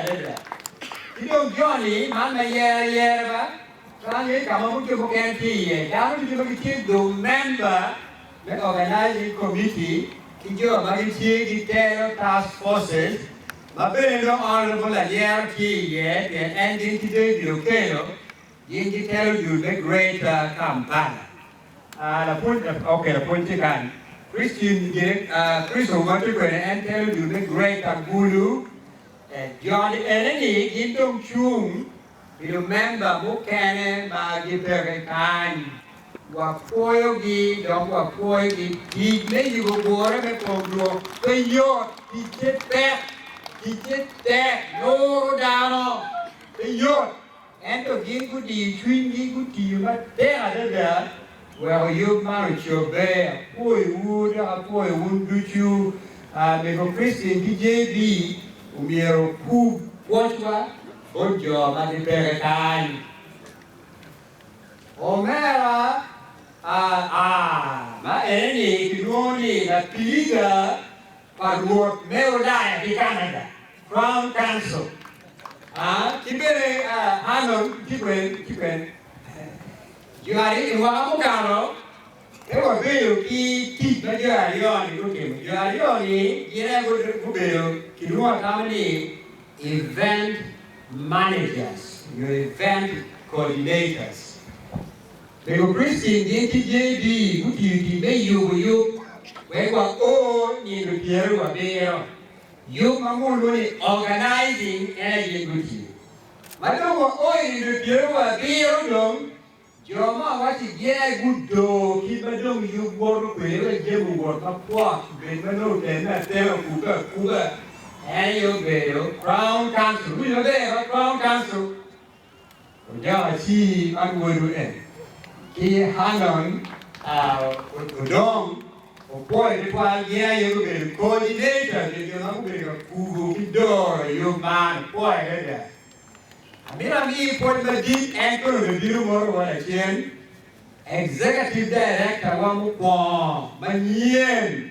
adada. Ci dong joni, man ma yer ayera ba, twero ni ka ma mucwe mukene tye iye, dano ducu ma gitye dong memba me Organizing Committee ki jo ma gitye gitelo Task Forces, ma bene dong Honourable Alyero tye iye pien en gin ki David Okello gin gitelo dul me Greater Kampala. Aa, lapwony, okay, lapwony tye kany. Christine, Chris Owati kwene, en telo dul me Greater Gulu. Tek joni eneni gin dong cung pi lumemba mukene ma gipeke kany. Wapwoyogi dok wapwoyogi. Tic me yubo gure me kom Rwot pe yot. Ticce tek, ticce tek. Luro dano pe yot. Ento gin gudiyo cwinygi, gutiyo matek adada weko yub man ocobbe. Apwoyowu dok apwoyo wun ducu. Mego Christine ki JB omyero opug pwocwa bot jo ma gipeke kany. Omera a, a, ma en-ni kilwongo ni Lapiliga. pa Rwot me Ulaya ki Canada, Crown Council, a ki bene Arnold Kibwen Kibwen. Jo aryo-wa mukalo pe wabedo ki tic ma jo aryo-ni gutimo. Jo aryo-ni gin aye gubedo kilwongo atama ni event managers nyo event coordinators. Mego Christine gin ki JB gutiyo i tim me yubo yub wek wako nyindo pyeraryo abiro. Yub ma mulwo ni Organizing en aye gin gutiyo. Ma dong wako i nyindo pyeraryo abiro dong, jo ma awaco iye gudoo kit ma dong yub woto kwede wek jami owot mapwot obed ma nongo otenne atena okubbe akuba, en aye obedo Crown Council. Iwinyo maber? Ma Crown Council. Odoko ci man wadu en ki Hanun odong opwoyo tutwal gin aye gubedo coordinator nyo jo ma gubedo ka kubo ki doro yub man opwoyo adada. Amito amiyi pwod madit en kono bene bino moto wa lacen Executive Director wa mukwongo manyen.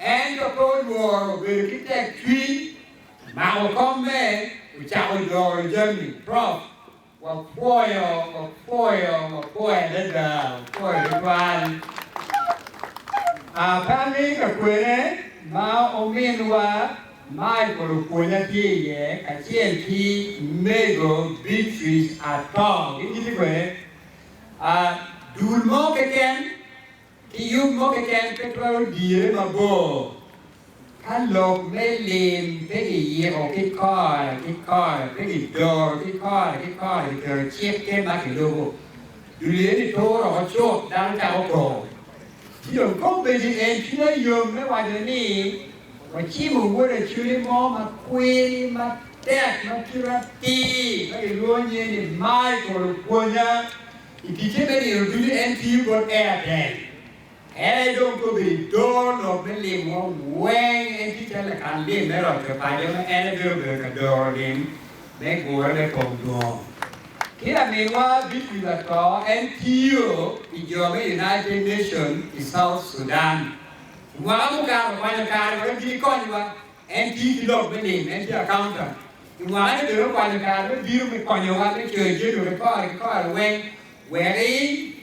Ento pe olworo bedo ki tek cwiny, mako komme, ocako joro jami. Prov. Wapwoyo, wapwoyo, wapwoyo adada, wapwoyo tutwal. Aa pe amini ka kwene ma ominwa Michael opwonya tye iye kacel ki Mego Beatrice Atong, gin gitye kwene? Aa, dul mo keken Ki yub mo keken pe twero dire mabor ka lok me lim pe kiyiko ki kore ki kore, pe kidoro ki kore ki kore, kiketo cikke ma kilubo. Dul eni tur oko cut, dano cako kor. Ci dong ka obedo en cwinya yom me waco ni wacimo wod aculi mo ma kwiri matek ma kite atir ma kilwongo nyinge ni Michael opwonya. I ticce me nino ducu en tiyo bot Airtel. En aye dong kobedo i doo lok me limwa weng. En tye calo lakan lim me roco paco ma en aye bene obedo ka doro lim me gure me kom dwongo. Ki laminwa Victory Lato en tiyo pi jo me United Nation i South Sudan. I mwaka mukato okwanyo kare wek ginikonnywa. En tiyo ki lok me lim, en tye accountant. I wanga ni bene okwanyo kare me bino me konyowa me coyo jami wa ki kore ki kore weng, weri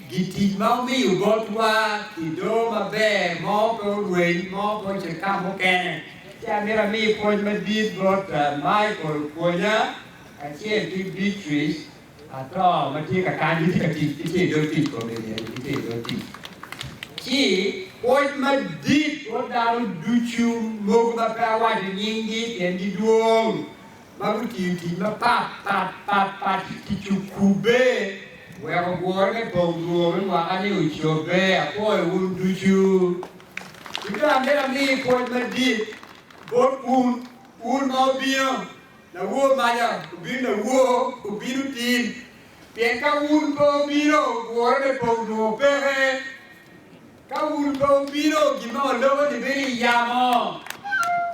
gi tic ma omiyo bot wa ki doo maber mo pe orweny mo pe ocit ka mukene. Ci amito ami pwoc madit bot Michael Kwonya kacel ki Beatrice. Ato ma tye ka kany gitye ka tic, gitye i dog tic, kome iye ni gitye i dog tic. Ci pwoc madit bot dano ducu mogo ma pe awaco nyinggi pien gidwong, ma gutiyo tic mapat pat pat pat ki tic okubbe weko gure me bong rwom me mwaka-ni ocobbe. Apwoyo wun ducu. Ki dong amito ami pwoc madit bot wun, wun ma wubino. Lawor maca obino lawor obino tin, pien ka wun pe obino, wore me pong onongo peke. Ka wun pe obino, gin ma waloko-ni bedo i yamo,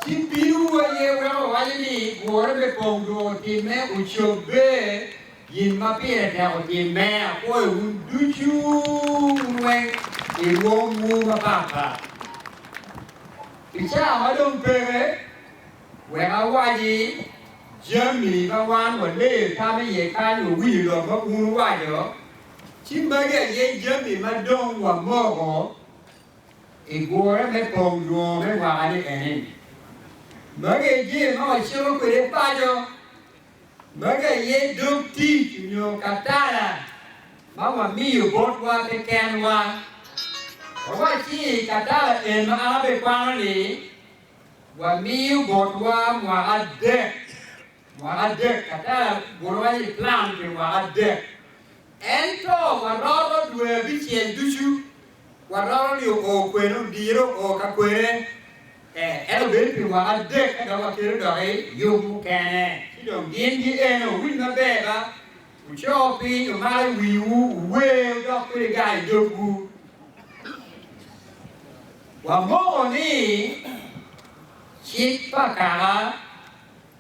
ci binowu aye weko wawaco ni, Wore me pong onongo otimme, ocobbe, gin ma pire tek otimme. Apwoyo wun ducu, wun weng, i rwomwu mapatpat. I caa ma dong peke, Wek awaci jami ma wan waleyo tam i iye kany wawiyo lok ma bun owaco, ci magi aye jami ma dong wamoko i gure me pong dwongo me mwaka-ni eni, Magi aye jami ma wacito kwede paco, magi aye dog tic nyo katala ma wamiyo botwa kekenwa. Wawaci katala en ma an abikwano-ni, wamiyo botwa mwaka adek, mwaka adek kata gurowa ni plan pi mwaka adek, ento waroro dwe abicel ducu waroro ni oo kwene odiro oo ka kwene, eh ento bedo pi mwaka adek ka dok wakelo doki yub mukene ci dong gin gi eno, winj maber ba. Wuco piny omar i wiwu, wuwer dok pe iga i dogwu. Wamoko ni cik pa kaka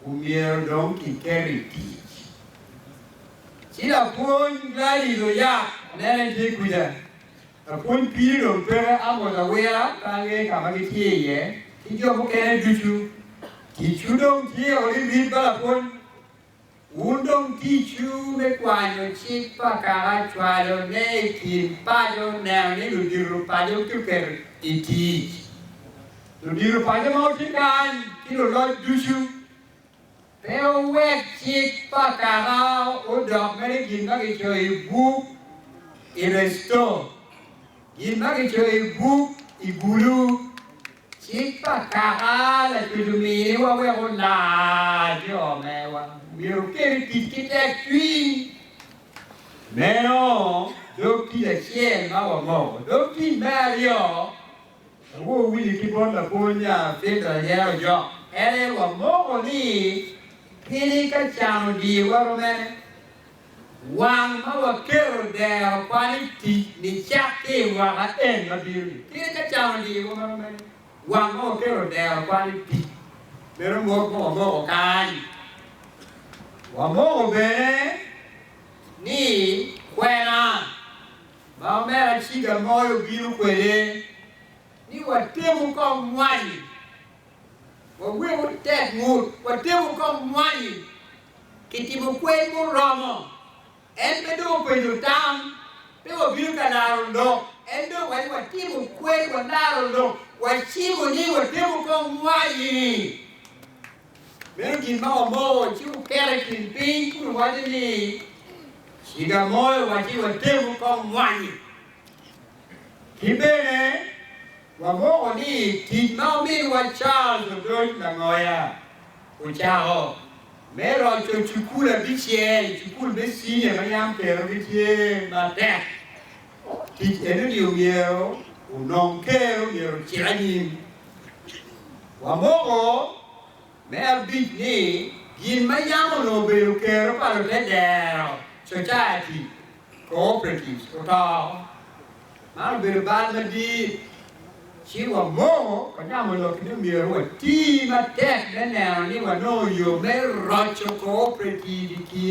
omyero dong kiketo i tic. Ci lapwony Gladys Oyak, anene tye kwija, lapwony piri dong peke, amwodo awira pe angeyo ka ma gitye iye ki jo mukene ducu. Ticwu dong tye odi rip ba lapwony Wun dong ticwu me kwanyo cik pa kaka cwalone i kin paco neno ni ludito paco kiketo i tic. Ludito paco ma wutye kany ki luloc ducu, pe wuwek cik pa kaka odok mere gin ma kicoyo i buk i resto, gin ma kicoyo i buk i gulu. Cik pa Kaka Lacuc omiwa wek olar jo mewa myero okel i tic ki tekcwiny. Meno dog tic acel ma wamoko. Dog tic me aryo, ma wawinyo ki bot lapwony Findra aye ojok kwede, wamoko ni keni ka can odiyowa romene, Wang ma waketo dero kwan i tic nicat ki i mwaka en ma bino-ni. Kit ka can odiyowa ma romeni, wang ma waketo dero kwan i tic meno mot ma wamoko kany. Wamoko bene ni kwena ma Omera Ciga Moyo obino kwede ni watemu kong mwanyi, wawek otek ngut, watemu kong mwanyi Kitimo kwer muromo. En pe dong openyo tam, pe wabino ka laro lok, en dong waye watimo kwer, walaro lok, wacimo ni watemo ka owaci ni meno gin ma wamoko, ci oketo i kin piny kun owaco ni ciga mo owaci watemo ka omwanyi. Ki bene Wagwoko ni tic ma ominwa Charles Odony Langoya ocako me roco cukul abicel, cukul me cinia ma yam kerogi tye matek, tic eno-ni omyero onong ker omyero ocit anyim. Wamoko me abic ni gin ma yam onongo obedo kero pa lute dero, society, cooperatives oto, man obedo bal madit, ci wamoo wanyamo lok ni myero wati matek me neno ni wanongo yo me roco cooperative i kin